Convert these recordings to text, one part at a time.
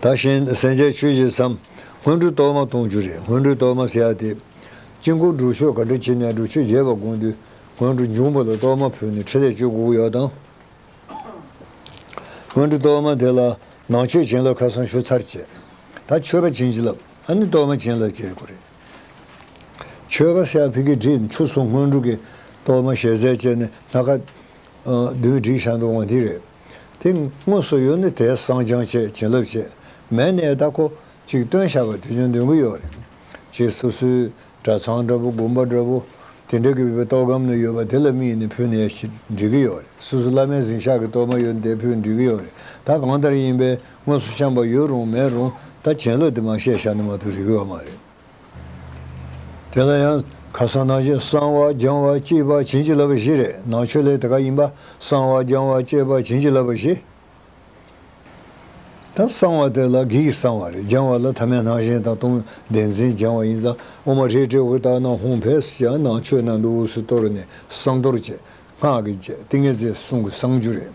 ད་བཞིན་སེང་ཆེན་ཆོས་བཞི་བསམ། སྔོན་འགྲོའི་གཏོར་མ་སྟོང་བཅུ་རེ་སྔོན་འགྲོའི་གཏོར་མ་བསྲེགས་ཏེ། དཀྱིལ་འཁོར་སྒྲུབ་ཆོག་ག་དྲིལ་ཕྱི་ནས་སྒྲུབ་ཆོག་རྒྱས་པར་དགོངས་དུས་སྔོན་འགྲོ་འབྱུང་པོ་ལ་གཏོར་མ་ཕུལ་ནས་ཕྲིན་ལས་བཅོལ་དགོས་ཡོད་དང། སྔོན་འགྲོའི་གཏོར་མ་དེ་ལ་ནང་མཆོད་བྱིན་རླབས་ཁ་སང་ཞུ་ཚར་བྱས། ད་མཆོད་པ་བྱིན་རླབས་ཨ་ནི་གཏོར་མ་བྱིན་རླབས་བྱེད་དགོས་རེད། མཆོད་པ་ཤར་ཕི་ཀི་བྲིས་མཆུ་སོགས་སྔོན་འགྲོ་གི་གཏོར་མ་ཞལ་ཟས་བཅས་ནི་སྣ་ཁ། བདུད་བཞི་བསྒྲིགས་བྱ་འདོང་བ་འདི་རེད། དེ་དངོས་སུ་ཡོད་ནི་དེ་བསང་སྦྱང་བྱེད་བྱིན་རླབས་བྱེད་མལ་ནས་བདག་གོ་ཅིག་སྟོན་བྱ་བ་དེ་ཅུང་འདོན་གྱི་ཡོད་རེད། ཅེས་སོ་སོའི་གྲྭ་ཚང་འདྲ་པོ་དགོན་པ་འདྲ་པོ་དེ་འདྲ་གི་བོད་ཐོག་སྒམ་ནས་ཡོད་པ་དེ་ལ་དམིགས་ནས་ཕུལ་ནས་འབྲི་གི་ཡོད་རེད་སོ་སོ་བླ་མའི་གཟིངས་ཤག་གི་གཏོར་མ་ཡོད་དེ་ཕུལ་འབྲི་གི་ཡོད་རེད་ད་གང་ལྟར་ཡིན་པས་དངོས་སུ་བཤམས་པ་ཡོད་རུང་མེད་རུང་ད་བྱིན་རླབས་དེ་མ་བཤད་བྱ་ནི་མ་གཏོགས་རིག་གི་ཡོད་མ་རེད། དེ་ལ་ཡང་ཁ་སང་ནང་བཞིན་གསང་བ་སྦྱང་བ་སྐྱེས་པ་བྱིན་གྱིས་བརླབས་པ་བཞི་རེད་ནང་ཆོས་ལས་དེ་ག་ཡིན་པ་གསང་བ་སྦྱང་བ་སྐྱེས་པ་བྱིན་གྱིས་བརླབས་པ་བཞི་ད་གསང་བ་དེ་ལ་གིས་གསང་བ་རེད་སྦྱང་བ་ལ་ཐ་མའི་སྣང་ཞེན་དང་སྟོང་བདེན་འཛིན་སྦྱང་བ་ཡིན་ཙང་ཨོ་མ་ཧྲེ་ཏྲེ་ཧུ་ཏཱ་ནང་ཧུང་བས་སུ་ཀྱང་ནང་ཆོས་ནང་དུ་འུ་སུ་གཏོར་ནས་གསང་གཏོར་བྱེད་སྔགས་ཀྱི་རྗེས་ཏིང་ངེ་རྫས་གསུང་གི་གསང་རྒྱུད་རེད།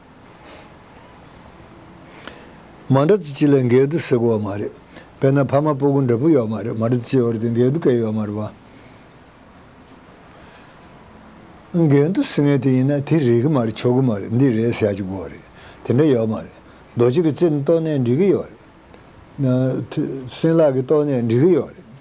མ་འདྲ་ཙི་ཅི་ལས་འགལ་འདུ་སེལ་གོ་མ་རེད་དཔེར་ན་ཕ་མ་སྤུ་གུ་འདྲ་པོ་ཡོད་མ་རེད་མ་འདྲ་ཙི་ཅི་བར་དེ་འགལ་འདུ་སྐད་ཡོད་མ་རེད་བ། འགལ་འདུ་སེལ་ངེས་དེ་ཡིན་ན་དེ་རེད་གི་མ་རེད་ཆོག་གི་མ་རེད་འདི་རེད་ཟེར་ཡག་ཅིག་དགོས་རེད་དེ་འདྲ་ཡོད་མ་རེད་རྡོ་རྗེ་གི་རྩེ་ནས་ཏོག་ནས་འགྲིག་གི་ཡོད་རེད། སྲིན་ལག་གི་ཏོག་ནས་འགྲིག་གི་ཡོད་རེད།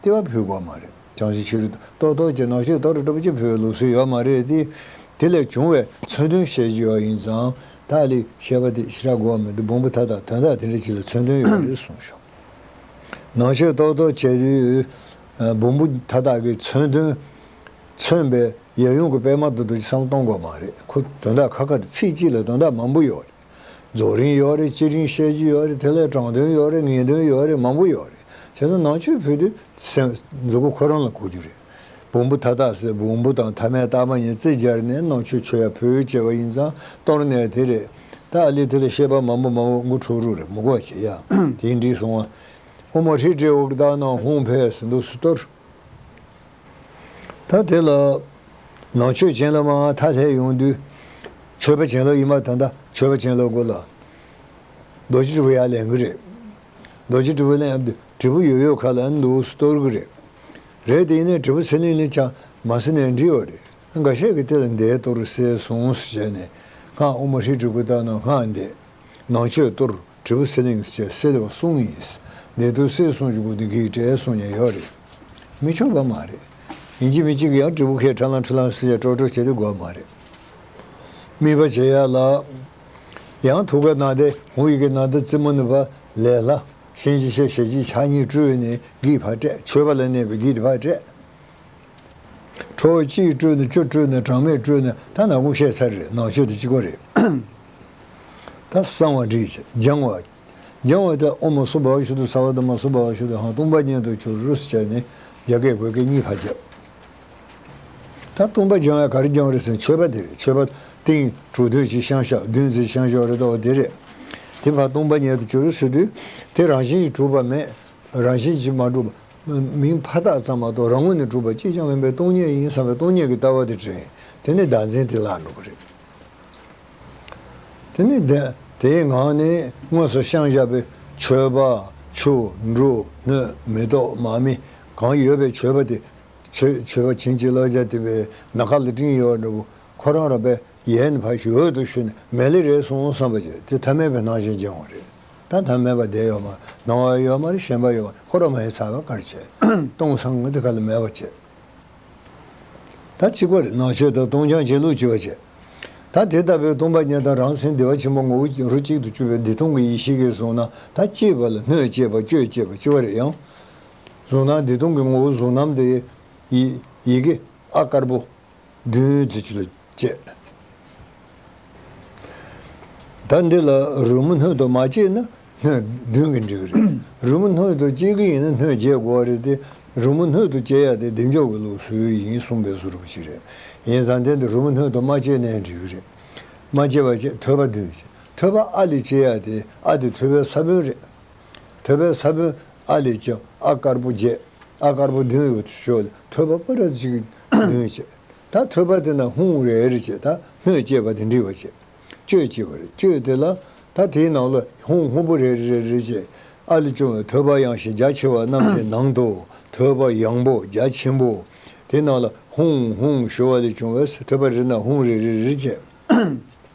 ལྟེ་བ་ཕུད་དགོས་མ་རེད། བྱང་ཆུབ་ཕྱིར་རྟོག་རྟོག་ཅེས་ནག་ཤོད་དོར་སྒྲུབ་ཀྱི་ཕུད་ལུགས་སྲོལ་ཡོད་མ་རེད་དེ། དེ་ལས་བྱུང་བའི་མཚོན་དོན་བཤད་ཀྱི་ཡོད་ཡིན་ཙང། ཏཱ་ལའི་བཤད་པ་དེ་ཤི་ར་གོ་བ་མི་འདུག་བོང་བུ་དག་དག་དོན་དག་དེ་འདྲ་ཅིག་ལ་མཚོན་དོན་ཡོད་རེད་གསུངས་བྱུང། ནག་ཤོད་རྟོག་རྟོག་བྱས་དུས། བོང་བུ་དག་དག་གིས་མཚོན་དོན། མཚོན་པའི་ཡབ་ཡུམ་གྱི་པདྨ་དུ་རྡོ་རྗེ་སམ་སྟོང་དགོས་མ་རེད། ཁོ་དོན་དག་ཁ་ཁ་དང་ཚིག་གཅིག་ལ་དོན་དག་མང་པོ་ཡོད་རེད། རྫོགས་རིང་ཡོད་རེད་ཅི་རིང་བཤད་རྒྱུ་ཡོད་རེད་དེ་ལས་དྲང་དོན་ཡོད་རེད་ངེས་དོན་ཡོད་རེད་མང་པོ་ཡོད་རེད་བྱས་ཙང་ནང་ཆོས་ཕུད་དུས་སེམས། མཛུ་གུ་ཁོ་རང་ལ་གོ་རྒྱུ་རེད། བོང་བུ་ཐ་དག་སེ་བོང་བུ་དང་ཐ་མའི་རྟགས་མ་གཉིས་རྩིས་སྦྱར་ནས་ནང་ཆོས་ཆོས་ཡ་ཕུད་ཅེས་པ་ཡིན་ཙང་གཏོར་ནས་དེ་རེད། ད་ཨ་ལི་དེ་ལ་ཤེས་པ་མང་པོ་མང་བོ་མགོ་འཁྲུག་རུག་རེད་མུ་གོ་བྱེད་ཡ་དེ་འགྲིག་སོང་ཨ། ཨོ་མ་ཧྲི་སྤྲེའུ་བདག་ནང་ཧུང་བྷས་སུ་འདུག་སུ་གཏོར། ད་དེ་ལ། ནང་མཆོད་སྦྱིན་ལ་མ་མཐའ་ལྷའི་ཡོངས་འདུས། མཆོད་པ་བྱིན་རླབས་ཡིད་མ་དང་དང་མཆོད་པ་བྱིན་རླབས་གོ་སླ། རྡོ་རྗེ་དྲིལ་བུ་ཡར་ལེན་གི་རེད། རྡོ་རྗེ་དྲིལ་བུ་ལན་དྲིལ་བུ་ཡོད་ཡོད་ཁ་ལ་འདུག་སུ་གཏོར་གི་རེད། རེད་དེ་ཡིན་ནས་དྲིལ་བུ་ཚེ་ལིང་ལིང་ཆང་མ་སེར་ནས་འདྲིལ་བ་རེད། འགའ་ཤས་ཀྱི་སྟེ་ལ་འདེད་གཏོར་བསེ་གཟུངས་སུ་བྱས་ནས་སྔགས་དབུ་མ་ཧྲིལ་དྲུག་གི་བཏགས་ན་སྔགས་འདེད། ནང་མཆོད་གཏོར། དྲིལ་བུ་སེ་ལིང་བཅས་སེལ་བ་གསུངས་ཡིན། འདས་དུས་སེལ་གསུངས་ཀྱི་སྒོ་དེ་གེགས་བྲལ་གསུངས་ཀྱང་ཡོད་རེད། མི་ཆོག་པ་མ་རེད། ཡིན་གཅིག་མིན་གཅིག་གིས་ཡང་དྲིལ་བུ་ཁས་དྲག་ལངས་ཁྲི་ལངས་སེལ་བྱས་སྤྲོ་སྤྲོ་བྱས་ཏེ་དགོས་པ་མ་རེད། སྨིན་པ་བྱེད་ཡ་ལ། ཡང་ཐུགས་ཀ་ནང་དེ་ཧུ་ཡིག་གི་ནང་དུ་རྩི་མ་ནུབ་པ་ལས་སླ། གཤིན་རྗེ་གཤེད་ཞལ་གཅིག་ཕྱག་གཉིས་སྤྲོས་ནས་བགེགས་ཕར་བསྐྲད་མཆོད་པ་ལ་གནས་པའི་བགེགས་དེ་ཕར་བསྐྲད། ཁྲོ་བོ་གཅིག་སྤྲོས་ན་བཅུ་སྤྲོས་ན་གྲངས་མེད་སྤྲོས་ན་ཐ་ན་དགུ་ཤས་ཚར་རེད་ནང་ཆོས་དེ་གཅིག་པ་རེད། ད་གསང་བ་དྲིས་སྦྱང་བ། སྦྱང་བ་དེ་ཨོ་མ་སོ་བྷཱུ་ཤུ་དུ་ས་བ་ད་མ་སོ་བྷཱུ་ཤུ་དུ་ཧཱང་སྟོང་པ་ཉན་དུ་ཆུ་རུ་སུ་བྱས་ནས་རྒྱ་སྐད་བོད་སྐད་གཉིས་བར་བརྒྱབ། ད་སྟོང་པ་སྦྱང་བས་ག་རེ་སྦྱང་རེད་ཟེར་མཆོད་པ་དེ་རེད་མཆོད་པ། ཏིང་གྲོ་བདུན་གྱི་ཤངས་ཞག་བདུན་རྩེའི་ཤངས་ཞོག་རེ་དོགས་པ་དེ་རེད། དེ་བར་སྟོང་པ་ཉན་དུ་ཆུ་རུ་སུ་དུས་དེ་རང་བཞིན་གྱིས་གྲུབ་པ་མེད། རང་བཞིན་གྱིས་མ་གྲུབ། མིང་ཕ་རྟགས་ཙམ་མ་གཏོགས་རང་ངོས་ནས་གྲུབ་པ་གཅིག་ཀྱང་མིན་པས་སྟོང་ཉིད་ཡིན་བསམ་པའི་སྟོང་ཉིད་ཀྱི་ལྟ་བ་དེ་དྲན། དེ་ནས་བདག་འཛིན་དེ་བརླག་འགྲོ་གི་རེད། དེ་ནས་དེའི་ངང་ནས་དངོས་སུ་ཤངས་བཞག་པའི་མཆོད་པ། ཆུ། འབྲུ། སྣོད། མེ་ཏོག། མ་མི། གང་ཡོད་པའི་མཆོད་པ་དེ། མཆོད་པ་བྱིན་གྱིས་བརླབས་བྱ་སྟེ་བའི་ན་ཁ་ལ་སྤྲིན་ཡལ་བ་འདྲ་བོ་ཁོ་རང་རང་པའི་ཡས་ནི་བར་གྱི་འོད་དུ་ཞུ་ནས་མལ་ལས་རེག་སོང་བསམ་པ་བྱས་དེ་ཐ་མལ་པའི་སྣང་ཞེན་སྦྱང་བ་རེ་ད་ཐ་མལ་པ་བདེ་ཡོད་མ་སྣང་བ་ཡོད་མ་རེ་ཞེན་པ་ཡོད་མ་ཁོ་རང་མ་ཡི་ཚ་བའི་དཀར་ཆས་སྟོང་སངས་ཏེ་ཁ་ལ་མལ་བ་བྱས། ད་གཅིག་པར་ནང་ཆོས་དང་སྟོང་སྦྱང་བྱེད་ལུགས་སྤྱི་བ་བྱས། ད་དེ་ལྟ་བུའི་སྟོང་པ་ཉིད་དང་རང་སེམས་བདེ་བ་ཆེན་པོ་ངོ་བོ་རོ་གཅིག་ཏུ་གྱུར་པའི་བདེ་སྟོང་གི་ཡེ་ཤེས་ཀྱིས་གཟུགས་སྣང་ད་སྐྱེས་པ་ལ་སྣོད་སྐྱེས་པ་སྐྱོད་སྐྱེས་པ་སྤྱི་བ་རེད་ཡང། གཟུགས་སྣང་བདེ་སྟོང་གི་ངོ་བོ་གཟུགས་རྣམ་དེ། ཡི་གེ་ཨ་དཀར་པོ། བདུན། བསྐྱེད། ད་འདི་ལ་རོལ་མོ་སྣོད་དུ་མ་བསྐྱེད་ན་སྣོད་བདུན་གྱི་འགྲིག་གི་རེད། རོལ་མོ་སྣོད་དུ་བསྐྱེད་གི་ཡིན་ན་སྣོད་བརྒྱད་དགོས་བ་རེད་དེ། རོལ་མོ་སྣོད་དུ་བསྐྱེད་ཡ་དེ་བདེ་མཆོག་གི་ལུགས་སུ་ཡིན་གསུངས་པའི་ཟུར་བུ་ཅིག་རེད། ཡིན་ཙང་དེ་འདི་རོལ་མོ་སྣོད་དུ་མ་བསྐྱེད་ནའི་འགྲིག་གི་རེད། མ་བསྐྱེད་པ་བཅས་ཐོད་པ་བདུན། ཐོད་པ་ཨ་ལས་བསྐྱེད་ཡ་དེ་ཨ་དེ་ཐོད་པའི་ས་བོན་རེད། ཐོད་པའི་ས་བོན་ཨ་ལས་བསྐྱེད་ཨ་དཀར་པོ་བརྒྱད། ཨ་དཀར་པོ་བདུན་ཡོད་དུ་ཆོག་ལས་ཐོད་པ་པ་ར་གཅིག་བདུན་བཅས། ད་ཐོས་པ་དེ་ན་ཧུང་ཝེ་ཨེར་བཅས་ད་སྨོས་ཅེས་པ་དེ་འདྲི་བ་བྱེད། བཅོས་ཅེས་པ་རེད་བཅོས་དེ་ལ་ད་དེའི་ནང་ལ་ཧུང་ཧུ་བུ་རེ་རེ་རེ་རེ་བཅས་ཨ་ལས་བྱུང་བའི་ཐོས་པ་ཡང་ཞེས་རྒྱ་ཆེ་བ་རྣམས་ཀྱི་ནང་དུ་ཐོས་པ་ཡང་པོ་རྒྱ་ཆེན་པོ། དེའི་ནང་ལ་ཧུང་ཧུང་ཞོ་བ་ལས་བྱུང་བའི་ཐོས་པ་རེ་ན་ཧུང་རེ་རེ་རེ་བཅས།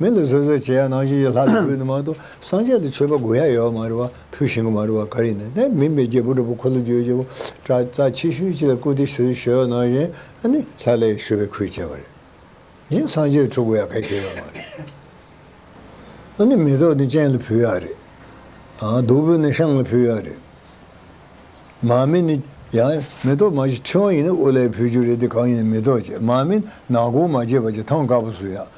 མི་ལ་བཟོད་བཟོད་བྱེད་ཡག་ནང་བཞིན་ཡོད་ལྷ་ལ་འབུལ་ནི་མང་དུ་སངས་རྒྱས་ལ་མཆོད་པ་དགོས་ཡག་ཡོད་མ་རེད་བ་ཕུལ་བཞིན་གི་མ་རེད་བ་ག་རེ་ཡིན་ན་ནས་མིན་པའི་རྒྱལ་པོ་འགྲོ་པོ་འཁོར་ལོ་རྒྱུ་རྒྱལ་པོ་བཀྲ་རྩ་ཆེ་ཤོས་ཅིག་ལ་བཀུར་སྟི་ཞུ་ཞུ་ཡག་ནང་བཞིན་ནི་ལྷ་ལས་ཞུ་བའི་ཁུལ་བྱས་བ་རེད་ཡིན་སངས་རྒྱས་ཁྲོ་དགོས་ཡག་གལ་ཆེ་ཡོད་མ་རེད་ནི་མེ་ཏོག་ནི་སྤྱན་ལ་ཕུལ་ཡག་རེད་ཨ་བདུག་སྤོས་ནི་ཤངས་ལ་ཕུལ་ཡག་རེད་མ་མིན་ནི་ཡང་མེ་ཏོག་མ་བཞི་ཕྲེང་བ་ཡིན་ན་དབུ་ལས་ཕུལ་རྒྱུ་རེད་དེ་གང་ཡིན་ནི་མེ་ཏོག་བཅས་མ་མིན་ནག་གུང་མ་བཅས་པ་བཅས་ཐང་དཀར་པོ་བསུ་ཡག་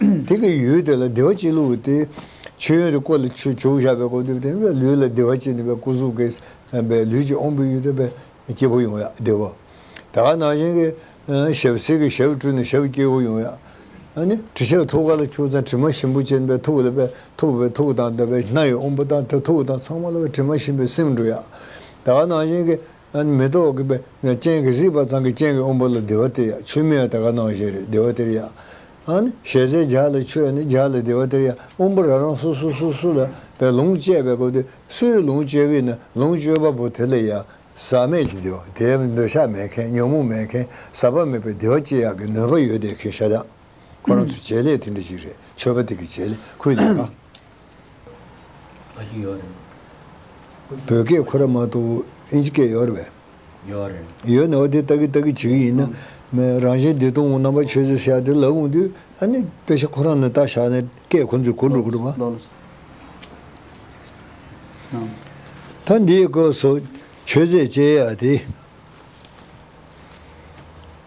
དེ་གི་ཡུལ་དེ་ལ་བདེ་བ་སྐྱིད་ལུགས་ཏེ། མཆོད་ཡོན་རེ་བཀོད་ལ་ཆོས་བྱུག་བཞག་པའི་སྐོར་འདུག་དེ་ནི་བས་ལུས་ལ་བདེ་བ་སྐྱིད་ནི་བས་སྐུ་གཟུགས་ཀྱི་བསམ་པས་ལུས་ཀྱི་དབང་པོའི་ཡུལ་དུ་བས་སྐྱིད་པོ་ཡོང་ཡ་བདེ་བ། ད་ག་ནང་བཞིན་གྱི། ཞབས་བསིལ་གྱི་ཞབས་བཀྲུས་ནས་ཞབས་སྐྱིད་པོ་ཡོང་ཡ། ནི། དྲི་ཆབ་ཐུགས་ཀ་ལ་བྱུག་ཙང་དྲི་མ་ཞིམ་པོ་སྐྱེ་ནི་བས་ཐུགས་ལ་བས་ཐུགས་བས་ཐུགས་དང་ལྡན་པའི་སྣ་ཡི་དབང་པོ་དང་ཐུགས་དང་ཚང་མ་ལ་བས་དྲི་མ་ཞིམ་པའི་སེམས་འགྲོ་ཡ། ད་ག་ནང་བཞིན་གྱི། མེ་ཏོག་གི་སྤྱན་གྱིས་གཟིགས་པ་ཚང་གི་སྤྱན་གྱིས་དབང་པོ་ལ་བདེ་བ་སྟེར་ཡ། ཆོས་མིན་ཡང་དེ་ཀ་སྣང་བཞིན་རེད་བདེ་བ་སྟེར་ཡ། ཞལ་ཟས་ལྗགས་ལ་མཆོད་ནས་ལྗགས་ལ་བདེ་བ་སྟེར་ཡ། དབང་པོ་རང་རང་སོ་སོ་སོ་སོ་ལ་བའི་ལོངས་སྤྱད་པའི་སྐབས་དེ་སུ་ཡི་ལོངས་སྤྱད་གི་ན་ལོངས་སྤྱོད་པ་པོ་དེ་ལ་ཡ། ཟག་མེད་ཀྱི་བདེ་བ་དེ་འདོད་ཆགས་མེད་མཁན་ཉོན་མོངས་མེད་མཁན་ཟག་པ་མེད་པའི་བདེ་བ་སྐྱེ་ཡག་གི་ནུས་པ་ཡོད་བསྡད་མཁན་ཤ་སྟག། ཁོ་རང་ཚོའི་བྱེད་ལས་དེ་འདྲ་ཞིག་རེད་ཆོས་པ་དེ་གི་བྱེད་ལས་ཁུལ་ལས་ཀ། བོད་སྐད་ཁོ་ར་མ་གཏོགས་ཨིན་ཇི་སྐད་ཡོད་རེད་བས། ཡོད་ནའོ་དེ་ལྟ་གི་ལྟ་གི་བྱེད་གི་ཡིན་ན། རང་བཞིན་བདེ་སྟོང་རྣམ་པར་ཆོས་ཟེར་བྱ་དེ་ལབ་འོང་དུས་ཨ་ནི་དཔེ་ཆ་ཁོ་རང་ནས་བལྟ་བཞག་ནས་སྐད་ཁོང་ཚོས་གོ་འགྲོ་གི་རེད་བས། ད་འདིའི་སྐོར་སོགས་ཆོས་ཟེར་བྱེད་ཡ་དེ།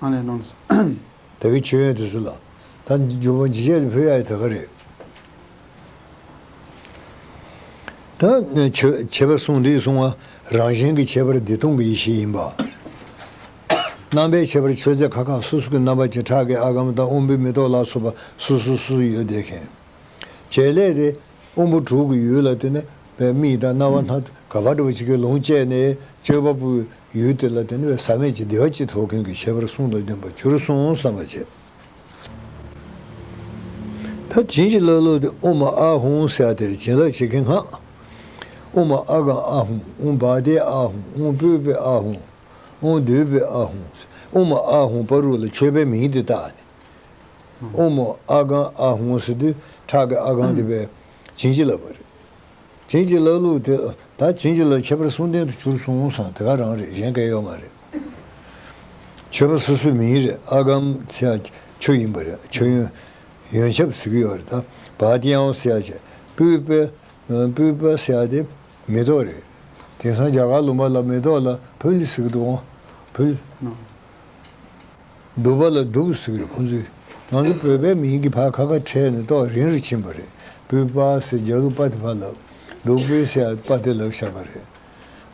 ཨ་ལས་སྣང་སྲིད། ད་གི་ཆོས་ཡོད་དུ་སུ་ལ། ད་འཇུག་པ་འཇིགས་བྱེད་དུ་ཕུལ་ཡ་ཡི་ད་ག་རེད། ད་བྱེད་པ་གསུང་འདིའི་གསུང་ང་རང་གཞན་གི་ཁྱད་པར་འདི་སྟོང་གི་ཡེ་ཤེས་ཡིན་པ། རྣམ་པའི་ཁྱད་པར་ཆོས་རྫས་ཁ་ཁ་སོ་སོ་གི་རྣམ་པ་བྱེ་བྲག་གི་ཨ་གམ་དང་དབང་པོའི་མེ་ཏོག་ལ་སོགས་པ་སོ་སོ་སོ་སོ་ཡོད་བསྡད་མཁན། བྱེད་ལས་དེ། དབང་པོ་དྲུག་གི་ཡུལ་ལ་བརྟེན་ནས། མིག་དང་རྣ་བ་སྣ་ག་བ་འདྲ་བ་ཅིག་གིས་ལོངས་སྤྱད་ནས་སྤྱོད་པ་པོའི། ཡུལ་དེ་ལ་བརྟེན་པའི་ཟག་མེད་ཀྱི་བདེ་བ་ཅི་ཐོབ་མཁན་གྱི་ཁྱད་པར་གསུང་དང་ལྡན་པར་གྱུར་སོང་བསམ་པར་བྱས། ད་བྱིན་གྱིས་བརླབས་ལོ་དེ་ཨུ་མ་ཨ་ཧུང་ས་དེར་བྱིན་རླབས་བྱེད་མཁན་སྔགས། ཨུ་མ་ཨ་གང་ཨ་ཧུང་ཨུ་བ་དེ་ཨ་ཧུང་ཨུ་སྤོས་པའི་ཨ་ཧུང་ཨུ་འདོད་པའི་ཨ་ཧུང་ཨུ་མ་ཨ་ཧུང་པ་རུ་ལ་མཆོད་པའི་མིང་དེ་བཏགས་ནས། ཨུ་མ་ཨ་གང་ཨ་ཧུང་ས་དུས་ཁྲག་གི་ཨ་གང་དེ་བས་བྱིན་གྱིས་བརླབས་པ་རེད། བྱིན་གྱིས་བརླབས་ལུགས་དེ་ད་བྱིན་གྱིས་བརླབས་ཁྱད་པར་གསུང་ལྡན་དུ་གྱུར་སོང་བསམ་དེ་ག་རང་རེད་གཞན་སྐལ་ཡོད་མ་རེད། ཆོས་པ་སོ་སོའི་མིང་རེད་ཨ་གམ་སེ་ཨ་ཆོས་ཡིན་པ་རེད་ཆོས་ཡོན། ཡོན་ཆབ་ཟེར་གི་ཡོད་རེད་ད་བ་ཏིའང་སེ་ཨ་ཆེ་པུའི་པེ། པུའི་པ་སེ་ཨ་དེ་མེ་ཏོག་རེད། དེང་སང་རྒྱ་གར་ལུང་པ་ལ་མེ་ཏོག་ལ་བུལ་ཟེར་གི་འདུག་བུལ། སྡུག་པ་ལ་སྡུག་ཟེར་བའི་ཁོང་ཚོས་ང་ཚོ་བོད་པའི་མིང་གི་བར་ཁ་ཁ་ཕྲལ་ནས་ཏོག་རིང་རུ་ཕྱིན་པ་རེད་བུ་པ་སེ་རྒྱ་ལུ་པ་དེ་ཕར་ལབ་སྡུག་པོའི་སེ་ཡ་པ་དེ་ལབ་ཤག་པ་རེད་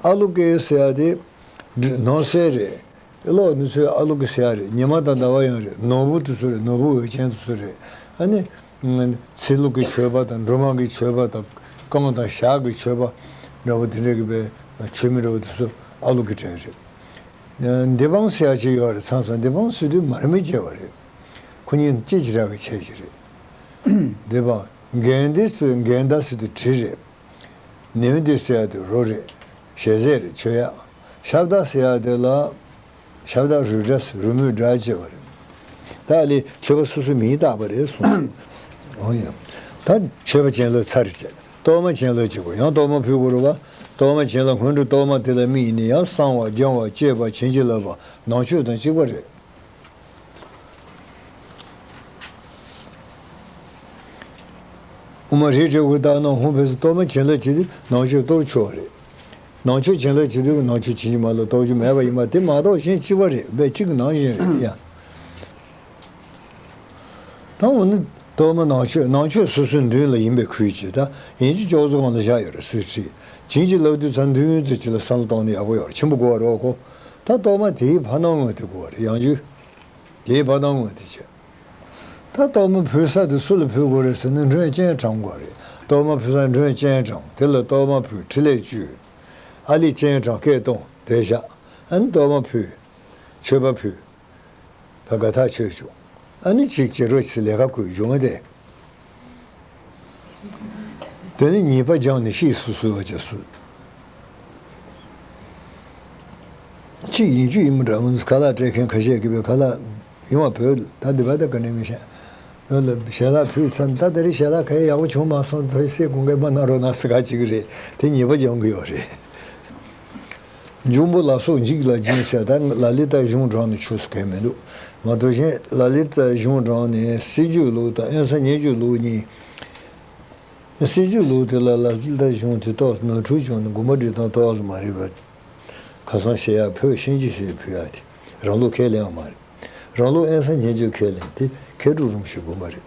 ཨ་ལུག་གི་སེ་ཡ་དེ་ནོར་གསལ་རེད་གློག་ནི་ཚོའི་ཨ་ལུག་གི་སེ་ཡ་རེད་ཉི་མ་དང་ཟླ་བ་ཡང་རེད་ནོར་བུ་དེ་ཚོ་རེད་ནོར་བུ་འོད་ཅན་དེ་ཚོ་རེད་ཨ་ནི། ཚེ་ལུག་གི་ཆོས་པ་དང་འབྲུ་མང་གི་ཆོས་པ་དང་རྐང་དང་ཞག་གི་ཆོས་པ་འདྲ་པོ་དེ་འདྲ་གི་པའི་ཆོས་མི་འདྲ་པོ་དེ་ཚོ་ཨ་ལུག་གི་བྲན་རེད་འདི་བང་སོ་ཡག་ཅིག་ཡོད་རེད་ཚང་སོང་འདི་བང་སོ་དུས་མར་མེ་བཅད་པ་རེད་ཁོ་གཉིས་གཅིག་གྱི་ར་གི་ཆས་ཀྱི་རེད་འདི་བང་རྒན་འདི་ཚོས་རྒན་བདག་སེ་དུ་གྲི་རེད་ནེའུ་འདི་སེ་ཡག་དུ་རོ་རེད་ཞལ་ཟས་རེད་ཆོས་ཡག་ཤ་བདག་སེ་ཡག་དེ་ལ་ཤ་བདག་རུས་སྒྲ་སེ་རུ་མོའི་སྒྲ་ཅེས་པ་རེད་ད་ལི་ཆོས་པ་སོ་སོའི་མིང་བཏགས་པ་རེད་གསུངས་ཨོ་ཡང་ད་ཆོས་པ་ཅན་ལོ་ཚར་རེད་བྱས། གཏོར་མ་ཆེན་ལོ་གཅིག་གོ་ཡང་གཏོར་མ་ཕུལ་གུ་རུ་བ། གཏོར་མ་ཆེན་ལ་སྔོན་འགྲོ་གཏོར་མ་དེ་ལ་དམིགས་ནས་ཡང་གསང་བ་སྦྱང་བ་བསྐྱེད་པ་བྱིན་གྱིས་བརླབས་པ་ནང་མཆོད་དང་གཅིག་པ་རེད། དབུ་མ་རིགས་དྲུག་གི་རྟགས་ནང་ཧོམ་ཕུན་སུམ་གཏོར་མ་ཆེན་ལོ་གཅིག་དེ་ནང་མཆོད་གཏོར་མཆོད་རེད། ནང་མཆོད་ཆེན་ལོ་གཅིག་དེ་ནང་མཆོད་བྱིན་གྱིས་མ་བརླབས་གཏོར་རྒྱུ་མེད་པ་ཡིན་པ་དེ་མ་གཏོགས་གཞན་གཅིག་པ་རེད་པས་གཅིག་གི་ནང་བཞིན་རེད། དང་པོ་ནི། གཏོར་མ་ནང་མཆོད་ནང་མཆོད་སོ་སོའི་མདུན་ལ་ཡིན་པའི་ཁུལ་གྱིས་དང། ཡན་གྱི་ཅོག་ཙེ་གང་ལ་བཞག་ཡོད་རེ་སོས་ཁྲིད། བྱིན་གྱིས་བརླབས་དུས་ཚར་མདུན་ཡོན་ཚོད་གཅིག་ལ་བསམ་བློ་གཏོང་ནས་ཡག་པོ་ཡོང་རེ་ཆེན་པོ་བསྒོ་བར་རོགས་གོ། ད་གཏོར་མ་དེའི་ཕ་སྣང་དངོས་དེ་བསྒོ་བ་རེ་ཡང་རྒྱུ། དེའི་ཕ་སྣང་དངོས་དེ་བྱེད། ད་གཏོར་མ་ཕུལ་ས་དེ་སུ་ལ་ཕུལ་དགོས་རེ་ཟེར་ན་མགྲོན་སྤྱན་དྲངས་དགོས་རེད། གཏོར་མ་ཕུལ་ས་མགྲོན་སྤྱན་དྲངས་དེ་ལ་གཏོར་མ་ཕུལ་ཕྲིན་ལས་བཅོལ། ཨ་ལས་སྤྱན་དྲངས་སྐད་གཏོང་དེ་བཞག། ཨན་གཏོར་མ་ཕུལ། མཆོད་པ་ཕུལ། དགའ་ཐག་ཆོད་བྱུང། ཨ་ནི་ཅིག་ཅེས་རོལ་ཆས་ལས་ཁ་བསྐོས་བྱུང་བ་དེ། དེ་ནས་ཉེས་པ་སྦྱངས་ནས་ཤེས་སུ་གསོལ་བ་བཅས་གསོལ། གཅིག་ཡིན་རྒྱུ་ཡིན་མི་འདྲ་ངོས་སུ་ཁ་ལག་སྤྲད་མཁན་ཁ་ཤས་ཀྱི་བའི་ཁ་ལག་ཡིན་བ་བོད་ད་དེ་བ་ད་ག་ནས་མི་ཤེས། བོད་ལ་ཞལ་ལག་ཕུལ་ཚར་ད་དེ་རིང་ཞལ་ལག་ཁའི་ཡག་པོ་བྱུང་མ་སོང་ཐོས་སྲས་སྐུ་འགས་མ་གནང་རོགས་གནང་ཟེར་ག་ཅིག་རེད་དེ་ཉེས་པ་སྦྱང་གི་ཡོད་རེད། འབྱུང་པོ་ལ་སོགས་འཇིགས་ལ་སྦྱིན་བྱ་ད་ལ་ལི་ཏཱའི་གཞུང་དྲངས་ནས་ཆོས་སུ་གལ་མི་འདུག་མ་གཏོགས་གཞན་ལ་ལི་ཏཱའི་གཞུང་དྲངས་ནས་སྲིད་ཇུས་ལུགས་དང་ཨེན་ས་ཉེ་ཇུས་ལུགས་གཉིས། སྲིད་ཇུས་ལུགས་དེ་ལ་ལ་ལི་ཏཱའི་གཞུང་དེ་ཏོག་ནོར་འཁྲུལ་བྱུང་ནས་དགོན་པ་འབྲི་སྟངས་ཏོག་ལ་མ་རེད་པ། ཁ་སང་བཤད་ཡག་བོད་གཤེན་གྱི་ཞེས་ཕུལ་ཡག་དེ་རང་ལུགས་ཁས་ལེན་ཡང་མ་རེད། རང་ལུགས་ཨེན་ས་ཉེ་ཇུས་ཁས་ལེན་དེ་མཁས་གྲུབ་རུང་ཞིག་དགོས་པ་རེད།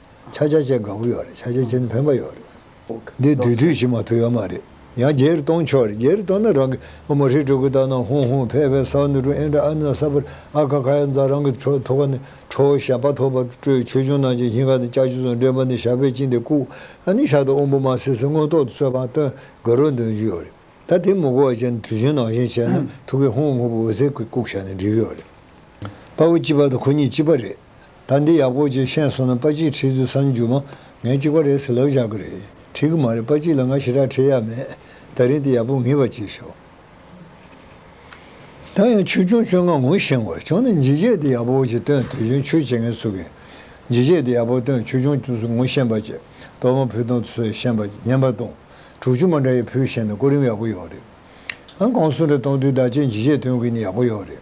ཆ་ཆ་ཅན་གང་པོ་ཡོད་རེད་ཆ་ཆ་ཅན་འཕེན་པ་ཡོད་རེད་འདི་དུས་དུས་བཞིན་མ་ཐུག་ཡོད་མ་རེད་ཡང་རྒྱལ་རེ་གཏོང་ཆོག་རེད་རྒྱལ་རེ་གཏོང་ན་རང་གི་ཨོ་མོ་ཧྲི་ཀྲུ་ཀུ་ཏག་ནང་ཧུང་ཧུང་ཕེ་ཕེ་སའོ་ནུ་ཀྲུང་ཨེན་ཀྲ་ཨ་ནུ་ཨ་ས་པར་ཨ་ཁ་ཁ་ཡ་མཛའ་རང་གི་ཁྲོ་ཐོ་ཁ་ནི་ཁྲོ་བོ་ཞབས་པ་ཐོག་པར་སྤྲོས་ཆོས་འབྱུང་ནང་བྱིན་ཞིང་ཁ་དང་ལྕགས་ཀྱུ་ཚོ་འདྲེན་པ་ནི་ཞབས་པས་བཅིངས་ཏེ་བཀུག་ཨ་ནི་ཞག་ཏུ་དབོན་པོ་མ་སེ་སེ་མངོན་རྟོག་ཏུ་གསོལ་བ་སྟོན་དགོས་རོགས་འདོན་རྒྱུ་ཡོད་རེད་ད་དེ་མི་གོ་བ་ཅན་དུས་བཞིན་ནང་བཞིན་བྱས་ན་ཐུགས་ཀྱི་ཧུང་ཧུང་པོ་འོད་ཟེར་གྱིས་བཀུག་བྱ་ནི་འགྲིག་གི་ཡོད་རེད་དཔའ་བོ་སྐྱིད་པ་དང་ཁོ་གཉིས་སྐྱིད་པ་རེད། ད་འདི་ཡག་པོ་ཅིག་ཤེས་སོང་ན་པ་གཅིག་ཁྲིད་དུས་སམ་རྒྱུ་མ་ངས་གཅིག་པ་རེད་ཟེར་ལབ་བཞག་གི་རེད་ཁྲིད་གི་མ་རེད་པ་གཅིག་ལ་ང་ཞེ་དྲག་ཁྲིད་ཡག་མེད་ད་རིང་དེ་ཡག་པོ་ངེས་པ་གཅིག་ཤོག་ད་ཡང་ཆོས་སྐྱོང་ཁྱོད་ངང་ངོ་ཤེས་བར་བྱུང་ན་འཇིགས་བྱེད་དེ་ཡག་པོ་ཅིག་སྟོན་དུས་གཞོན་ཆོས་བྱེད་མཁན་ཚུགས་གིན་འཇིགས་བྱེད་དེ་ཡག་པོ་སྟོན་ཆོས་སྐྱོང་ཁྱོད་ཚོ་ངོ་ཤེས་པ་ཅིག་གཏོར་མ་ཕུལ་སྟངས་ཚོས་བཤན་པ་བསྙེན་པར་གཏོང་དྲུག་ཅུ་མ་འདྲ་ཡི་ཕུལ་བཤན་ན་སྐུ་རིམ་ཡག་པོ་ཡོག་རེད་ཨང་གང་སུ་འདྲ་གཏོང་དུས་བདག་བསྐྱེད་འཇིགས་བྱེད་སྟོན་གིན་ཡག་པོ་ཡོག་རེད།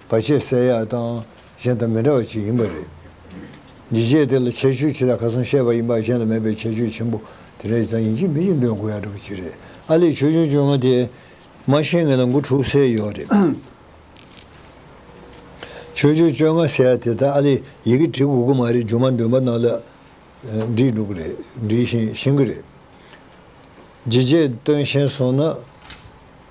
བ་ཆེས་གསལ་ཡག་དང་གཞན་དང་མི་འདྲ་བ་ཅིག་ཡིན་པ་རེད། ཇི་སྐད་དེ་ལ་ཁྱད་ཆོས་ཆེ་ལ་ཁ་སང་བཤད་པ་ཡིན་པ་གཞན་ལ་མེད་པའི་ཁྱད་ཆོས་ཆེན་པོ་དེ་འདྲ་ཡིན་ཙང་ཡིན་གཅིག་མིན་གཅིག་འདོན་དགོས་ཡག་འགྲོ་བ་ཅིག་རེད་ཨ་ལེ་ཆོས་འབྱུང་བཅོ་ལྔ་དེ་མ་ཤེས་ངེད་ལ་མགོ་འཁྲུག་སའི་ཡོག་རེད། ཆོས་འབྱུང་བཅོ་ལྔ་ཟེར་ཡག་དེ་དག་ཨ་ལེ་ཡི་གེ་བྲི་དགོས་ཀྱི་མ་རེད་འགྱུར་མ་འདོན་པ་རྣམས་ལ་འདྲིས་འགྲོ་གི་རེད་འདྲིས་བཞིན་ཤེས་ཀྱི་རེད། ཇི་སྐད་དོན་བཞིན་སོང་ན།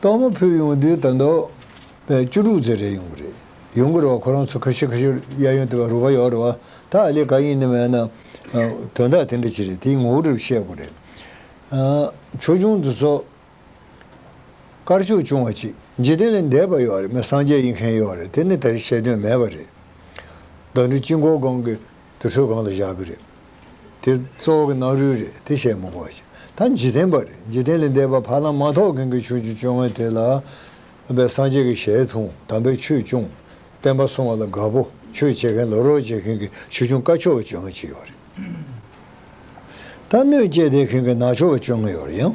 གཏོར་མ་ཕུལ་ཡོང་དུས་ད་མདོ་བས་བཅུ་དྲུག་ཚེ་རེད་ཡོང་གི་རེད་ཡོང་གི་རེད་བ་ཁོ་རང་ཚོ་ཁ་ཤི་ཁ་ཤོར་གཡས་གཡོན་དེ་བ་རུ་བ་ཡོག་རེད་བ་ད་ཨ་ལས་ག་ཡིན་ནི་མེད་ན་དོན་དག་དེ་འདྲ་ཅི་རེད་དེའི་ངོ་བོ་རིགས་བཤད་དགོས་རེད་ཆོས་འབྱུང་འདི་ཚོ་དཀར་ཕྱོགས་ཆུང་བ་ཅིག་འཇིག་རྟེན་ལས་འདས་པ་ཡོག་རེད་མི་སངས་རྒྱས་ཡིན་མཁན་ཡོག་རེད་དེ་ནི་དེར་བཤད་དོན་མེད་པ་རེད་མདོ་འདི་དཀྱིལ་འཁོར་སྒང་གི། དུར་ཁྲོད་གང་ལ་བཞག་གི་རེད། དེ་གཙོ་བོ་གི་སྣང་རུས་རེད་དེ་བཤད་མི་དགོས། ད་འཇིག་རྟེན་པ་རེད་འཇིག་རྟེན་ལས་འདས་པ་ཕ་ལམ་མ་ཐོག་གིང་གི་ཆོས་ཀྱི་སྤྱོད་ངན་དེ་ལ། པའི་སངས་རྒྱས་ཀྱི་ཞལ་མཐོང་དམ་པའི་ཆོས་སྐྱོང། བསྟན་པ་བསྲུང་བ་ལ་དགའ་པོ་ཆོས་བྱེད་མཁན་ལོ་རོགས་བྱེད་མཁན་གྱི་ཆོས་སྐྱོང་དཀའ་ཆོག་བ་སྤྱོད་ངན་བྱེད་ཡོད་རེད། ད་གནོད་བསྐྱེད་དེ་གིང་གི་ནག་ཆོག་བ་སྤྱོད་ངན་ཡོད་རེད་ཡང།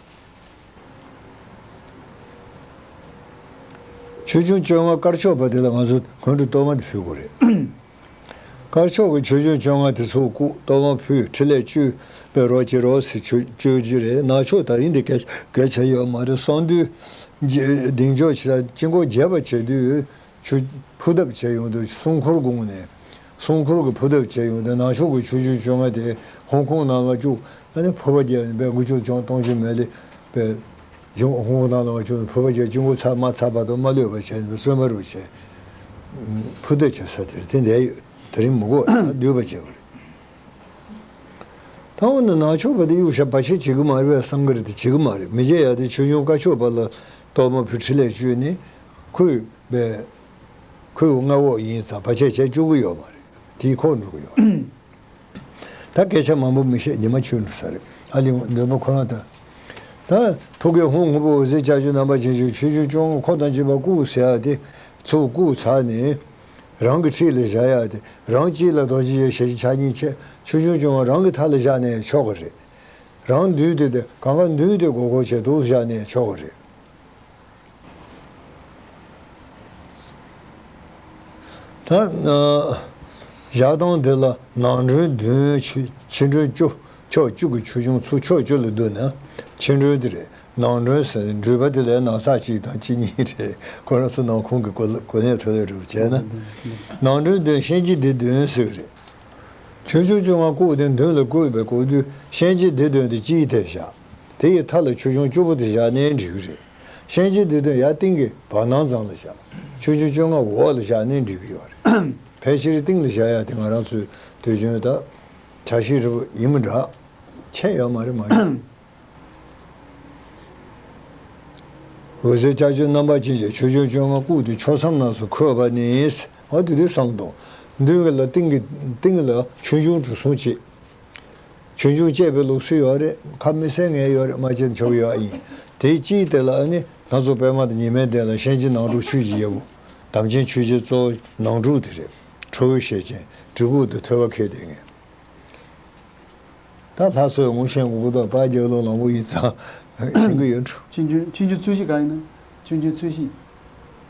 ཆོས་འབྱུང་བཅོ་ལྔ་དཀར་ཕྱོགས་པ་དེ་ལ་ང་ཚོ་གོན་དུ་གཏོར་མ་འདི་ཕུལ་དགོས་རེད། དཀར་ཕྱོགས་ཀྱི་ཆོས་འབྱུང་བཅོ་ལྔ་དེ་ཚོ་བཀུག་གཏོར་མ་ཕུལ་ཕྲིན་ལས་བཅོལ་པའི་རོགས་བྱེད་རོགས་ཟེར་བཅོལ་རྒྱུ་རེད་ནག་ཕྱོགས་དག་ཡིན་དེ་གས་གས་བྱས་ཡོད་མ་རེད་གསང་འདུས་གདེང་འཇོག་བྱེད་ད་དཀྱིལ་འཁོར་རྒྱས་པ་བྱས་དུས་ཆུ་ཕུ་ཐབས་བྱས་ཡོང་དུས་སྲུང་འཁོར་དགུང་ནས་སྲུང་འཁོར་གྱི་ཕུ་ཐབས་བྱས་ཡོང་དོན་ནང་ཆོག་གི་ཆུ་རྒྱུན་བཅོ་ལྔ་དེ་ཧོང་ཀོང་ནང་ལ་བཅུག་ཕུ་བ་རྒྱལ་བའི་འགུལ་སྐྱོད་ཅང་ཏོང་ཅིན་མེ་ལི་པའི་གཞུང་ཧོང་ཀོང་ནང་ལ་བ་ཅུག་ནས་ཕུ་བ་རྒྱལ་སྤྱི་འགོ་ཚར་མ་ཚར་བར་དུ་མ་ལུས་པ་བྱས་ནས་བཙོན་པ་རུ་བྱས། ཕུ་བསྟོད་བྱེད་ས་དེར་དེ་འདས་ཡོད་དེ་རིང་མི་འགོ་ལ་སྡུད་པ་བྱས་པ་རེད། ད་འོ་ན་ནང་ཆོག་པ་དེ་གཡུག་ཞབས་པ་ཆེ་བྱེད་གི་མ་རེད་བས་བསམ་གི་རེད་དེ་བྱེད་གི་མ་རེད་མི་བྱེད་ཡག་དེ་ཆོས་འབྱུང་བཀའ་ཆོས་པ་ལ་གཏོར་མ་ཕུལ་ཁྲི་ལས་བཅུད་ནི་ཁུ་བས། ཁོས་མངའ་འོག་ཡིན་ཙང་བར་ཆད་བྱེད་བཅུག་གི་ཡོད་མ་རེད། དེའི་ཁོག་འཛུགས་ཡོད་རེད། ད་སྐད་ཆ་མང་པོ་མི་བཤད་ཉི་མ་འཁྱུད་འགྲོ་ས་རེད། ཨ་ལི་ངོ་འདོད་པ་ཁོ་རང་ལྟ། ད། ཐུགས་ཀའི་ཧུང་ཧུང་པོ་འོད་ཟེར་ལྕགས་ཀྱུ་རྣམ་པར་འབྱེད་ཅིང་ཆོས་ཆུང་བཅོ་ལྔ་ཁོག་དང་བཅས་པ་བཀུག་ཟེར་ཡག་སྟེ། ཚུར་བཀུག་ཚར་ནས། རང་གི་འཁྲིས་ལ་བཞག་ཡག་སྟེ། རང་སྐྱིད་ལ་རྡོ་རྗེ་ཡེ་ཤེས་ཀྱི་ཕྱག་གཉིས་ཁྱེད་ཆོས་ཆུང་བཅོ་ལྔ་རང་གི་མཐའ་ལ་བཞག་ནས་ཆོག་གི་རེད། རང་མདུན་དེ་དེ་གང་ག་མདུན་དེ་གོ་གོ་བྱེད་དུ་བཞག་ནས་ཆོག་གི་རེད། བཞག་སྟངས་དེ་ལ་ནང་མགྲོན་བདུན་ཕྱི་མགྲོན་བཅུ་ཕྱོགས་བཅུ་གི་ཆོས་འབྱུང་ཚུལ་ཕྱོགས་བཅུ་ལ་བསྡུ་ན་ཕྱི་མགྲོན་དེ་རེད་ནང་མགྲོན་ཟེར་ནས་འདྲུད་པ་དེ་ལས་ནང་ཚགས་གཅིག་དང་གཅིག་གཉིས་རེད་ཁོ་རང་ཚོ་ནང་ཁུང་གི་གོ་གནས་ཐོན་ལས་སྒྲུབ་བྱས་ན། ནང་མགྲོན་བདུན་གཤེན་གྱི་སྡེ་བདུན་ཟེར་གྱི་རེད། ཆོས་འབྱུང་བཅོ་ལྔ་བཀོད་དེ་མདུན་ལ་བཀོད་པའི་གོ་དུས་གཤེན་གྱི་སྡེ་བདུན་དེ་སྤྱིའི་ཐད་བཞག། དེ་ཡི་མཐའ་ལ་ཆོས་འབྱུང་བཅུ་པོ་དེ་བཞག་གནས་འགྲིག་གི་རེད། གཤེན་རྗེ་འདི་དོན་ཡ་ཏིང་གི་བར་སྣང་ཙམ་ལ་བཞག་ཆོས་འབྱུང་བཅོ་ལྔ་བོ་བ་ལ་བཞག་གནས་འགྲིག་གི་ཡོད་རེད། ཕལ་ཆེར་ཏིང་ལ་བཞག་ཡ་དེ་ང་རང་ཚོའི་དུས་རྒྱུན་ད་བྱ་ཞིག་རེད་པོ་ཡིན་མི་འདྲ། ཆད་ཡོད་མ་རེད་མ་རེད། འོད་ཟེར་ལྕགས་ཀྱུ་རྣམ་པ་ཅན་གྱི་ཆོས་འབྱུང་བཅོ་ལྔ་བཀུག་ཏེ་ཕྱོགས་མཚམས་རྣམས་སུ་འཁོད་པ་ནི། ཨ་དེ་དུས་སམ་སྟོང། མདུན་གྱི་ལ་ཏིང་གི་ཏིང་ལ་ཆོས་འབྱུང་དྲུག་གསུངས་ཅི། ཆུང་ཆུང་སྤྱད་པའི་ལུགས་སྲོལ་ཡོད་རེད་ཁ་མི་གསལ་ངེས་ཡོད་རེད་མ་བྱེད་མཆོག་ཡོད་ཨ་ཡིན་དེའི་སྤྱིའི་དེ་ལ་ཨ་ནི་སྣ་ཚོགས་པད་མ་དང་ཉི་མའི་གདན་ལ་གཤེན་གཅིག་ནང་དྲུག་ཆོས་ཀྱི་རྒྱལ་པོ། དམ་ཅན་ཆོས་རྗེ་གཙོ། ནང་དྲུག་དེ་རེད། ཁྲོ་བོའི་ཞལ་ཅན། གྲི་གུག་དང་ཐོད་པ་ཁེལ་དེ་ངེས། ད་ལྷ་སོ་ཡི་ངོ་ཤེས་མགོན་པོ་དང་དཔལ་རྒྱལ་ལོ་ལང་པོ་ཡིན་ཙང། ཤིང་གི་ཡོས་འཁྲུ། ཆེན་ཆུང་ཆེན་ཆུང་རྩོད་གཞི་གང་ཡིན་ན། ཆུང་ཆུང་རྩོད་གཞི།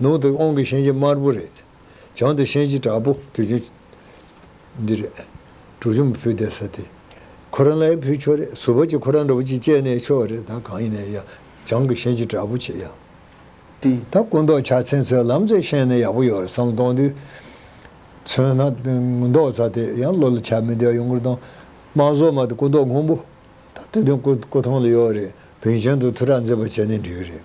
ནང་དུ་ཨོང་གི་ཤན་གྱི་དམར་པོ་རེད། བྱང་དུ་ཤན་གྱི་དྲག་པོ་དུས་ཆུང། འདི་རེད། དྲུག་ཆུང་བུ་བསྡད་ས་དེ། ཁོ་རང་ལའི་བུ་ཁྱོ་རེད་ཟུར་བ་གཅིག་ཁོ་རང་འདྲ་བོ་གཅིག་བཅས་ནས་ཁྱོ་རེད་ད་གང་ཡིན་ན་ཡ། བྱང་གི་ཤན་གྱི་དྲག་པོ་ཆེ་ཡ། དེ། ད་སྐུ་མདོག་ཕྱག་མཚན་ཚོའི་ལམ་རྩེ་ཤན་ནི་ཡག་པོ་ཡོད་རེད་བསམ་བློ་གཏོང་དུས། མཚོན་ན། མདོག་རྩ་དེ་ཡང་བློ་ལ་ཆགས་མི་བདེ་བ་ཡོང་གི་དང། དམངས་ཟོག་མ་དེ་སྐུ་མདོག་སྔོན་པོ། ད་དུས་སྟོན་སྐུ་སྐུ་ཐང་ལ་ཡོད་རེད་བོན་ཆེན་དུ་ཐུགས་ཁྲག་འཛིན་པ་བྱས་ནས་འགྲིག་གི་རེད།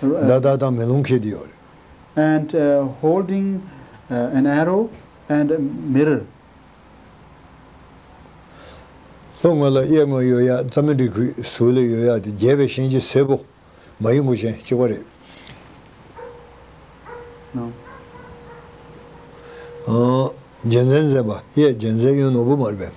ཟླ་བདག་དང་མེ་ལོང་མཁས་དེ་ཡོད་རེད། and holding an arrow and mirror། ལྷོ་ངོས་ལ་གཡས་ངོས་ཡོད་ཡག་རྩ་མེད་འབྲི་ཁུལ་ཟུར་ལས་ཡོད་ཡག་དེ་རྒྱས་པའི་ཤིང་རྗེ་སེར་པོ། མ་ཡིག་མགོ་ཅན་གཅིག་པ་རེད། རྒྱལ་མཚན་མཛེས་པ་གཡས་རྒྱལ་མཚན་གཡོན་ནོར་བུ་མར་བབས།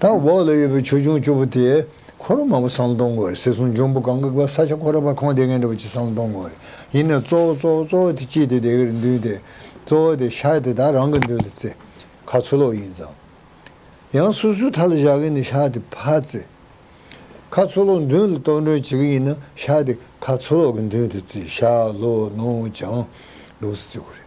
དང་འོག་ལ་ཡོད་པའི་ཆོས་འབྱུང་བཅུ་པོ་དེས་འཁོར་ལོ་མང་པོ་བསང་གཏོང་དགོས་རེད་ཟེར་སོང་འབྱུང་པོ་གང་གི་བར་ས་ཆ་ཁོ་ར་བར་ཁོང་སྡེ་ངན་འདྲ་བོ་གཅིག་བསང་གཏོང་དགོས་རེད་ཡིན་ནས་གཙོ་བོ་གཙོ་བོ་གཙོ་བོ་དེ་ཅི་དེ་དེ་གར་འདུས་ཏེ་གཙོ་བོ་དེ་ཤ་དེ་དག་རང་གི་མདུན་ལ་བརྩི་ཁ་ཚུར་ལོག་ཡིན་ཙང་ཡང་སོ་སོའི་མཐའ་ལ་བཞག་གིན་ནས་ཤ་དེ་ཕར་བརྩི་ཁ་ཚུར་ལོག་མདུན་ལ་གཏོར་མགྲོན་བྱེད་ཀྱི་ཡིན་ན་ཤ་དེ་ཁ་ཚུར་ལོག་གི་མདུན་དུ་བརྩི་ཤ་ལོ་ནོར་བྱང་ལུགས་སུ་བརྩི་དགོས་རེད།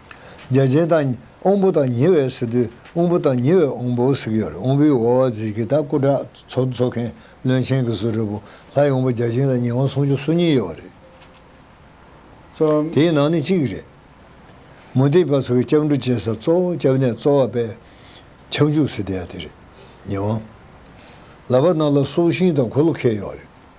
རྒྱ་ཆེན་དང། དབང་པོ་དང་ཉེ་བའི་སི་ཏུ། དབང་པོ་དང་ཉེ་བའི་དབང་པོའོ་སི་ཀྱོར་དབང་པོའི་ཝོ་ཝ་ཛི་ཀི་ཏཱ་སྐུ་དྲག་ཚོགས་འདུ་ཚོགས་མཁན་བློན་ཆེན་གྱི་ཟུར་རེ་བོ་ལྷ་ཡི་དབང་པོ་རྒྱ་ཆེན་དང་ཉེ་དབང་སྲུང་ཆོག་སུ་གཉིས་ཡོད་བ་རེད། གསུམ། དེའི་ནང་ནས་གཅིག་རེད། མུ་སྟེགས་པ་ཚོ་གི་སྐྱབས་འགྲོ་གཅེས་ས་གཙོ་བོ་སྐྱབས་གནས་གཙོ་བ་པས། ཁྱབ་འཇུག་སི་ཏི་ཡ་དེ་རེད། ཉེ་དབང། ལ་བ་སྣ་ལ་སྲོག་ཤིང་དང་གོ་ལོ་ཁེལ་ཡོད་རེད།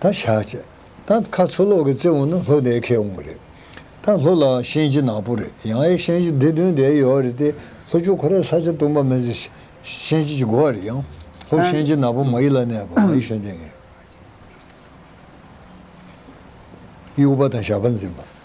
ད་བཞག་ཅེས། ད་ཁ་ཚུར་སློག་གི་རྩེ་འོང་ན་ལྷོ་དེའི་ཁས་འོང་གི་རེད། ད་ལྷོ་ལའང་ཤན་གྱི་ནག་པོ་རེད་ཡང་ཨེ་ཤན་གྱི་སྡེ་བདུན་དེ་ཡོད་རེད་དེ་ལྷོ་ཆུ་ཁོ་རའི་ས་ཆ་སྟོང་པ་མེ་ཟི་ཤན་གྱི་གྱི་གོ་བ་རེད་ཡང་ལྷོ་ཤན་གྱི་ནག་པོ་མ་ཡི་ལ་ནས་པ་མ་ཡི་ཤོན་ཏན་ངེས་ཡི་ཨུ་པ་དང་ཞགས་པ་འཛིན་པ།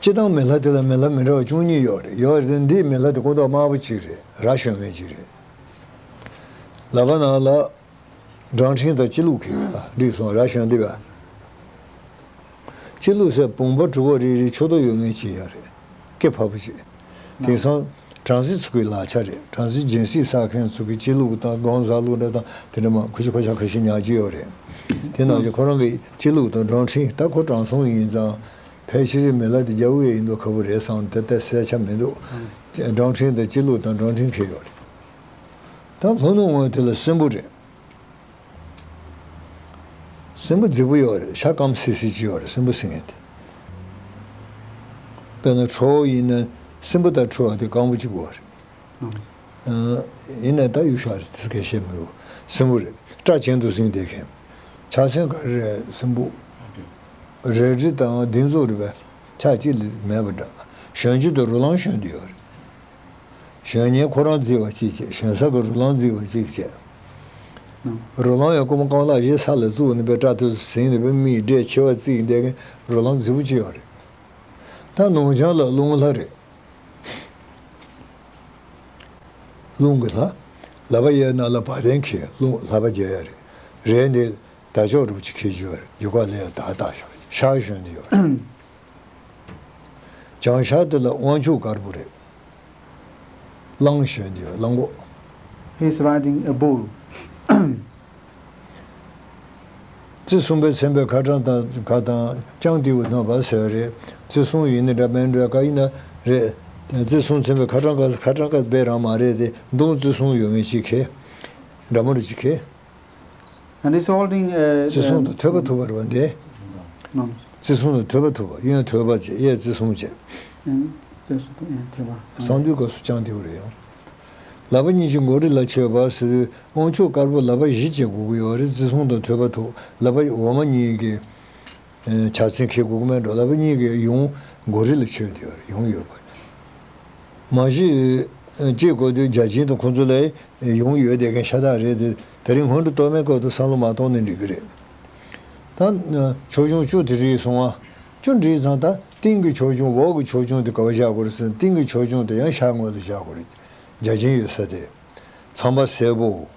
སྤྱིར་བཏང་མེ་ལྷ་དེ་ལ་མེ་ལྷ་མི་འདྲ་བ་བཅུ་གཉིས་ཡོད་རེད་ཡོད་རེད་དེ་འདིའི་མེ་ལྷ་དེ་སྐུ་མདོག་དམར་པོ་ཅིག་རེད་ར་གཞོན་མེད་ཅིག་རེད། ལ་བ་ནང་ལ། སྦྲང་ཕྲེང་དང་སྤྱི་བླུགས་གིས་བསྒྲིགས་སོང་ར་གཞོན་འདི་བ། སྤྱི་བླུགས་སའི་བུང་བ་གྲུ་བོ་རིལ་རིལ་ཆུ་རྡོ་ཡོད་ངེས་ཅི་ཡང་རེད། སྐད་ཕབ་པ་ཞིག། དེང་སང་བྲང་གཟིག་ཚུགས་ཀྱི་ལག་ཆ་རེད་བྲང་གཟིག་སྦྱིན་སྲེག་བསགས་མཁན་ཚུགས་ཀྱི་སྤྱི་ལུགས་དང་སྒང་བཟའ་ལུགས་འདྲ་དང་དེ་འདྲ་མ་ཁུ་བྱུག་ཁ་ཤ་ཁ་ཤས་ཉག་གཅིག་ཡོད་རེད་དེ་ནང་བཞིན་ཁོ་རང་གི་སྤྱི་ལུགས་དང་སྦྲང་ཁྲིན་ད་ཁོ་བྲང་སྲོང་ཡིན་ཙང་ཕལ་ཆེར་རི་མེ་ལ་དེ་རྒྱ་བོད་ཡིན་འདུག་ཁ་བོ་རེད་བསམ་དེ་ལྟ་གསལ་ཆ་མི་འདུག་སྦྲང་ཁྲིན་དང་སྤྱི་ལུགས་དང་སྦྲང་ཁྲིན་ཁེལ་ཡོད་རེད་ད་ལྷོ་ནུབ་ངོས་དེ་ལ་སྲིན་པོ་རེད། སྲིན་པོ་རྫིག་པོ་ཡོད་རེད་ཤ་སྐམ་སིལ་སིལ་གྱི་ཡོད་རེད་སྲིན་པོ་སིང་ངེ་དེ། དཔེར་ན་ཁྲོ་བོ་ཡིན་ན་སྲིན་པོ་ལྟར་ཁྲོ་བ་དེ་སྐམ་པོ་གཅིག་པུ་རེད། ཡིན་ན་ད་ཡུག་ཤག་རེད་དེ་ཚོ་གས་བཤད་མི་འོས་སྲིན་པོ་རེད་སྐྲ་གྱེན་དུ་བསྲིངས་བསྡད་མཁན། ཕྱག་ཆེན་ག་རེ་རེད་སྲིན་པོ་རེད་གྲི་དང་སྡིག་མཛུབ་རེད་པས་ཆ་གཅིག་ལས་མེད་པ་འདྲ་གཞོན་སྐྱེས་དུ་རུ་ལང་ཞོན་དུ་ཡོད་རེད། གཞོན་ཉིན་ཁོ་རང་བརྫིས་པ་གཅིག་བྱས་གཞོན་བསགས་ཀྱི་རུ་ལང་བརྫིས་པ་གཅིག་བྱས། རུ་ལང་ཡང་རྐུ་མ་རྐང་ལག་བཞི་ས་ལ་བཙུགས་ནས་པའི་སྐྲ་ཐོད་སུ་ཟིན་ནས་པའི་མིག་འབྲས་མཆེ་བ་བརྩིགས་འདས་མཁན་རུ་ལང་བརྫིས་པོ་གཅིག་ཡང་རེད། ད་ནུང་ཆང་ལ་རླུང་ལྷ་རེད། རླུང་གི་ལྷ། ལ་པ་ཡའི་ནང་ལ་བ་དན་ཁེལ་རླུང་ལྷ་པ་རྒྱལ་ཡ་རེད། རེད་འདི། ད་ཅོག་སྒྲུབ་ཅིག་ཁེལ་རྒྱུ་ཡ་རེད་རྒྱུ་ཁ་ལེ་ཡ་དག་དག་ཤག་གཞོན་དེ་ཡོད་རེད། བྱང་ཤར་དེ་ལ་དབང་ཕྱུག་དཀར་པོ་རེད། གླང་གཞོན་གྱི་གླང་གོག། He's riding a bull། རྩེ་གསུམ་པའི་མཚན་པའི་ཁ་གྲངས་དང་ཁ་དང་ཅང་ཏེའུ་སྣང་བ་ཟེར་བ་རེད། རྩེ་གསུམ་ཡིན་ན་འདྲ་མིན་འདྲ་ཀ་ཡིན་ན་རེད། རྩེ་གསུམ་མཚན་པའི་ཁ་གྲངས་ཁ་གྲངས་ཀ་དཔེ་རང་མ་རེད་དེ་མདུང་རྩེ་གསུམ་ཡོད་མེད་ཅི་ཁེ། འདྲ་མོ་རེད་ཅི་ཁེ། བརྩི་སྲུང་དང་ཐོས་པ་ཐུབ་པར་བ་འདས། བརྩི་སྲུང་དང་ཐོས་པ་ཐུབ་པ་གཡོན་ཐོས་པ་བཅས་གཡས་བརྩི་སྲུང་བཅས། གསང་འདུས་སྐབས་སུ་ཅང་ཏེའུ་རེ་ཡང། ལ་བ་གཉིས་ཀྱི་མགོ་རེ་ལ་མཆོད་པ་སོས་དབང་ཕྱུག་དཀར་པོ་ལ་བ་བཞི་བཅས་མགོ་གཡོ་བ་རེ་བརྩི་སྲུང་དང་ཐོས་པ་ཐུབ་ལ་བ་འོག་མ་གཉིས་ཀྱི། བྱ་ཚིག་གི་གུག་མའི་འགྲོ་ལ་བུ་གཉིས་ཀའི་ཡུང་མགོ་རི་ལ་ཆོས་འདི་བར་ཡོང་ཡོད་པ། མ་གཞི། སྐྱེས་དགོས་དུས་བརྒྱ་བྱིན་དང་ཁོང་ཚོ་ལས་ཡོང་ཡོད་བསྡད་མཁན་ཤ་སྟག་རེད་དེ། དེ་རིང་སྔོན་འགྲོ་གཏོར་མའི་སྐབས་དུ་བསམ་བློ་མ་གཏོང་ནས་འགྲིག་གི་རེད། ད། ཆོས་འབྱུང་བཅུ་དེ་རིགས་སོང། བཅུ་འགྲིག་ཙང་ད་སྟེང་གི་ཆོས་འབྱུང་འོག་གི་ཆོས་འབྱུང་དེ་ག་བ་བཞག་དགོས་རེད་སེམས་སྟེང་གི་ཆོས་འབྱུང་དེ་ཡང་ཤར་ངོས་ལ་བཞག་དགོས་རེད། བརྒྱ་བྱིན་ཡོད་ས་དེ། ཚངས་པ་སེར་པོ།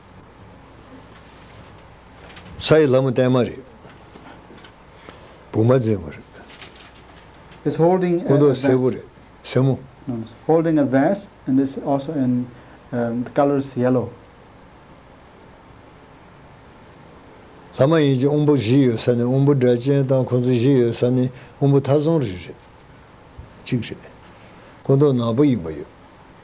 ས་ཡི་ལྷ་མོ་བརྟན་མ་རེད། བུ་མ་འཛིན་མོ་རེད། སྐུ་མདོག་སེར་པོ་རེད། སེར་མོ། ལྷ་མ་ཡིན་གྱི་དབོན་པོ་བཞི་ཡོད་ས་ནི་དབོན་པོ་སྒྲ་གཅན་དང་ཁོང་ཚོ་བཞི་ཡོད་ས་ནི་དབོན་པོ་ཐ་ཚང་རེ་རེད། གཅིག་རེད། སྐུ་མདོག་ནག་པོ་ཡིན་པ་ཡོད།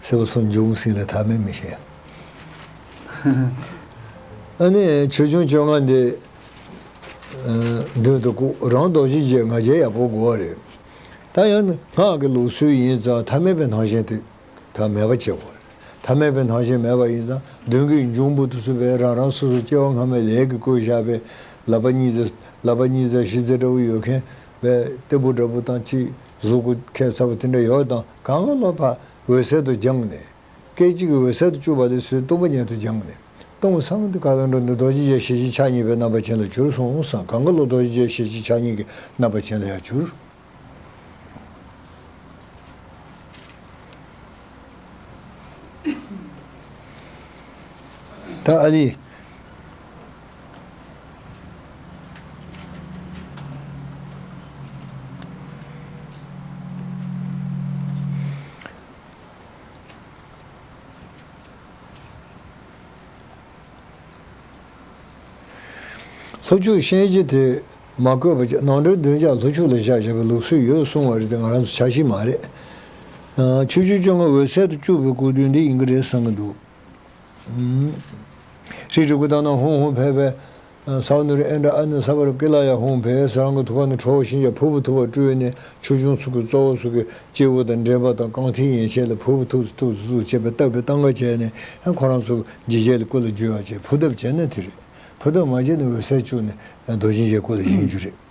སེར་བོ་སོགས་འབྱུང་སྲིད་ལ་ཐ་མལ་མི་བྱེད། ཨ་ནི། ཆོས་འབྱུང་བཅོ་ལྔ་འདི། མདུན་དུ་བཀུག་རང་རྡོ་རྗེ་རྗེའི་ང་རྒྱལ་ཡག་པོ་དགོས་བ་རེད། ད་ཡང་ནི་སྔགས་ཀྱི་ལུགས་སྲོལ་ཡིན་ཙང་ཐ་མལ་པའི་སྣང་ཞེན་དེ་དག་མེད་པ་བྱེད་དགོས་རེད། ཐ་མལ་པའི་སྣང་ཞེན་མེད་པ་ཡིན་ཙང་མདུན་གྱི་འབྱུང་པོ་དུ་སུ་བས་རང་རང་སོ་སོ་སྐྱེ་བ་སྔ་མའི་ལས་ཀྱི་བསྐོས་བཞག་པས་ལག་པ་གཉིས་རྩེ་ལག་པ་གཉིས་རྩེ་བཞི་རྩེ་འདྲ་བོ་ཡོད་མཁན་བས་སྟེགས་བུ་འདྲ་བོ་དང་གཅིག་གཟུགས་སྐུ་ཁས་ཚ་བོ་དེ་འདྲ་ཡོད་དང། གང་ལ་སློབ་པ་འོད་གསལ་དུ་སྦྱངས་ནས། སྐད་ཅིག་གིས་འོད་གསལ་དུ་བཅུག་པ་ལས་སོའི་སྟོང་པ་ཉིད་དུ་སྦྱངས་ནས། སྟོང་སངས་ཏེ་ཀ་ལ་འགྲོ་འདི་རྡོ་རྗེ་འཇའ་ཤེས་བཞིན་ཕྱག་གཉིས་པའི་རྣམ་པ་ཅན་ལ་གྱུར་སོང་སང་གང་ག་ལ་རྡོ་རྗེ་འཇའ་ཤེས་བཞིན་ཕྱག་གཉིས་ཀྱི་རྣམ་པ་ཅན་ལ་ཡང་གྱུར། ཏཱ་ལའི། ལྷོ་ཕྱོགས་གཤེན་རྗེ་དེས་མ་བསྐོས་པ་ཅིག་ནང་དྲོད་བདུན་ཅག་ལྷོ་ཕྱོགས་ལ་བཞག་བཞག་པའི་ལུགས་སྲོལ་ཡོད་གསུང་བ་རེད་དེ་ང་རང་ཚོ་ཆ་ཤིག་མ་རེད། ཆུ་ཆུ་བཅོ་ལྔ་འོད་གསལ་དུ་བཅུག་པའི་སྐུ་དུས་འདི་ཡིན་གྱི་རེད་བསམ་གྱི་འདུག། ཧྲིལ་ཀྲིག་ཀུ་ཏང་ནང་ཧུང་ཧུང་བྷེ་བྷེ། སའོ་ནུ་རི་ཨན་དྲ་ཨན་ནི་ས་བ་རུ་ཀི་ལ་ཡ་ཧུང་བྷེས་རང་གི་ཐུགས་ཀ་ནས་ཁྲོ་བོ་ཤིང་བྱ་ཕུར་བུ་ཐུབ་པ་སྤྲུལ་ནས་ཆོས་འབྱུང་ཚུལ་གྱི་གཙོ་བོ་སོ་གི་སྐྱེས་བུ་དང་འདྲེས་པ་དང་རྐང་མཐིལ་ཡན་ཆད་ལ་ཕུར་བུ་ཐུགས་སུ་ཐུགས་སུ་ཐུགས་སུ་བྱས་པས་བཏབ་པའི་སྟངས་ཀ་བྱས་ནས་ཁོ་རང་ཚུར་འཇིགས་བྱེད་ལ་སྐུ་ལ་འཇུས་བ་བྱས་ཕུར་གདབ་བྱས་ན་དེ་རེད་ཕུར་གདབ་མ་བྱས་ན་འོད་གསལ་བཅུག་ནས་རྡོ་རྗེ་འཇའི་སྐུ་ལ་བཞེངས་རྒྱུ་རེད།